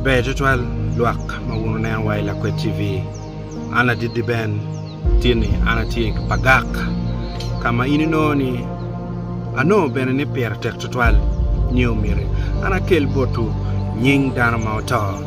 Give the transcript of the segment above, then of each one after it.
Ber tutwal lwak ma wun wuneno wa i Lakwed TV. An Ladidi Ben tye ni an atye i Pagak ka ma in inongo ni anongo bene ni pire tek tutwal nyo myero an akel botwu nying dano ma oto.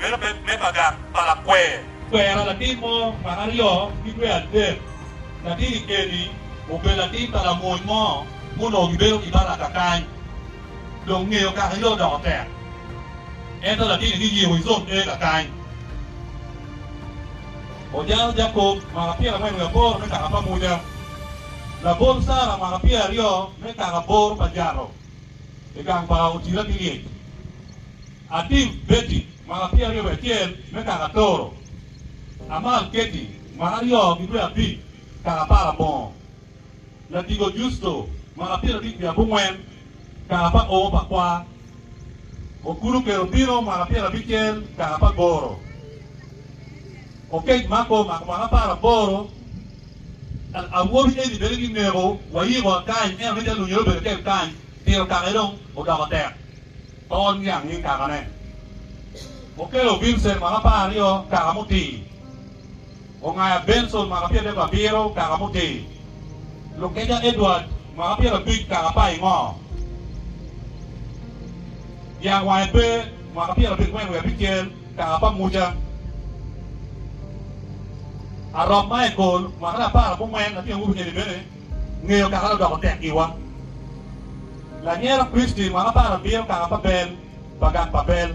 meno bed me bagak pa lakwer. Kwera latin mo pa aryo ki dwe adek, latin i Kedi obedo latin pa lamony mo ma onongo gibedo i Baraka kany. Dong ngeyo kakayo odoko tek, ento latinni giyiko i zon ega kany. Ojalo Jacob mwaka pyerangwen wiye aboro me kaka pa Muca. Labol Sara mwaka pyeraryo me kaka aboro pa Jato i gang pa Otira ki Lyec. Atim Betty, mwaka pyeraryo wiye acel, me kaka Toro. Amal Katy, mwaka aryo ki dwe abic, kaka Aparabongo. Ladigo Justo, mwaka pyerabic wiye abongwen, kaka pa oo pa kwar. Okulu Kerobino, mwaka pyerabicel, kaka pa Goro. Okej Marco, mwaka apar aboro, kaka awobi. Eni bene ki neko wayiko akany, ento ni te lunyere obedo tek kany, tiro kake dong odoko tek. Tol niang nying kakane. Okelo Vincent mwaka apar aryo kaka mutii. Ongaya Benson mwaka pyera adek abiro kaka mutii. Lukeja Edward mwaka pyera abic kaka pa ingo. Dyang wange pe mwaka pyera abiro gwen wiye abicel kaka pa Muca. Arop Michael mwaka apar abongwen latyeng wubi eni bene. Ngeyo kare odoko tek giwa. Lanyero Kristi mwaka apar abiro kaka pa bel pa gak pa bel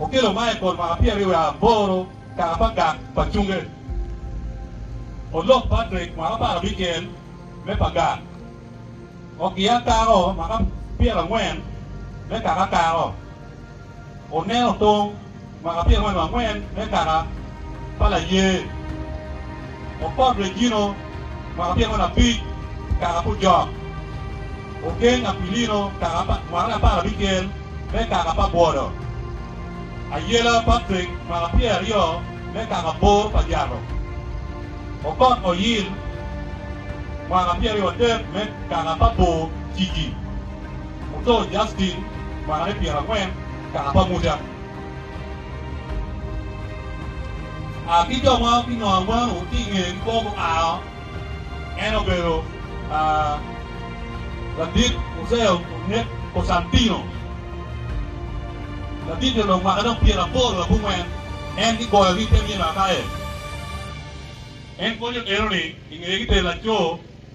okelo Michael mwaka pyeraryo wiye aboro kaka pa gak pa cunge. Olok Patrick mwaka apar abicel me pa gak. Okia Caro mwaka pyerangwen me kaka Caro. Oneno tong. Mwaka pyeraryo nyo angwen me kaka pa laye opot Regino, mwaka pyeraryo nyo abic kaka pu Jok ogeng Aquilino, kaka pa mwaka nyo apar abicel me kaka pa bwodo Ayela Patrick, mwaka pyeraryo me kaka bor pa Jato opot Oyil, mwaka pyeraryo adek me kaka pa bor Ciki Muto Justin, mwaka ne pyerangwen. kaka pa Muca. A Ki jo ma ki nongo angwen-nu tye i ngeye ki kwo guao, en obedo a ladit Uceo onek Kocantino, ladit jo lok mwaka dong pyera poro abongwen, en ki goyo ki i te myel Akaye. En konyo eno ni i ngeye ki te laco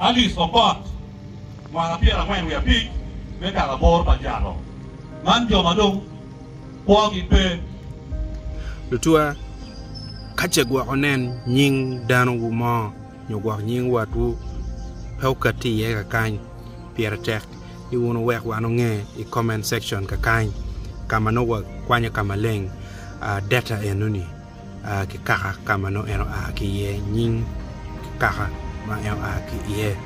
Alice Okot, mwaka pyera angwen wiye abic, me kaka bor pa jalo man jo ma dong kwogi pe. Lutuwa, Ka ce gwok wunen nying danowu mo nyo gwok nying watwu pe okatti iye kakany, pire tek ni wun wuwek wan onge i comment section kakany ka ma nongo wakwanyo ka maleng data enoni. ki kaka ka ma nongo en oa ki iye, nying ki kaka ma en oa ki iye.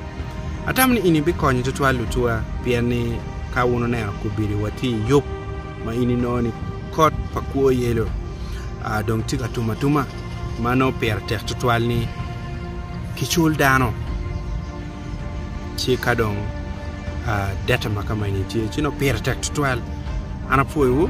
Atamo ni eni bikonyo tutwal lutuwa pien ni ka wun oneno kubili wa tye iyub ma in inongo ni kot pa kwo yelo dong tye ka tum atuma ma nongo pire tek tutwal ni kicul dano. ci ka dong dette ma kama eni tye ci nongo pire tek tutwal an apwoyowu.